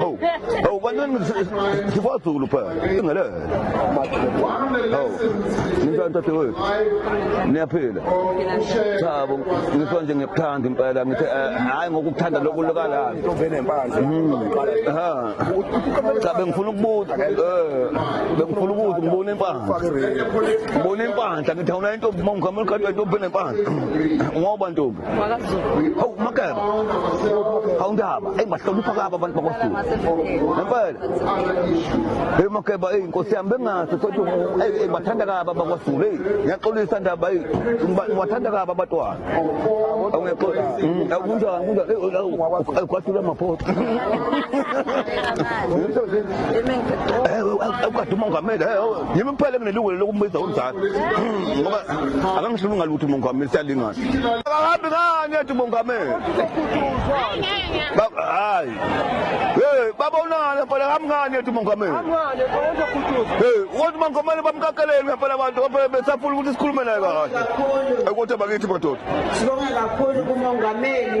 Hawu. Hawu kanini sifaZulu phela. Ingelele. Hawu. Nitshela ntate wethu. Niyaphila. Cha bo ngisho nje ngiyakuthanda impela ngithe eh, hayi ngokukuthanda lokulukala. Tovene mpanzi. Ha. Cha bengifuna ukubuza eh bengifuna ukubuza ngibona impandla. Ngibona impandla ngithe awuna intombi mawungihamba ekhaya intombi enempandla. Ngoba ntombi hawu makeba hawu ndaba eyi bahlonipha kabo abantu bakwazulu ngempela eyi makeba eyi nkosi yami bengazi sothi eyi bathanda kabo abakwazulu eyi ngiyaxolisa ndaba eyi ngibathanda kabo abatwana kunjani kunjani kwasula amaphoto ukade umongameli yimi kuphela nginelungelo lokumbiza umzali ngoba akangishibi ngalutho umongameli siyalingana akahambi ngani ethi umongameli hayi hey babonana mfana hambi ngani ethi umongameli hey uthi umongameli bamkakeleni ngempela abantu besafuna ukuthi sikhulume naye kahle ekwothe bakithi madoda sibonga kakhulu kumongameli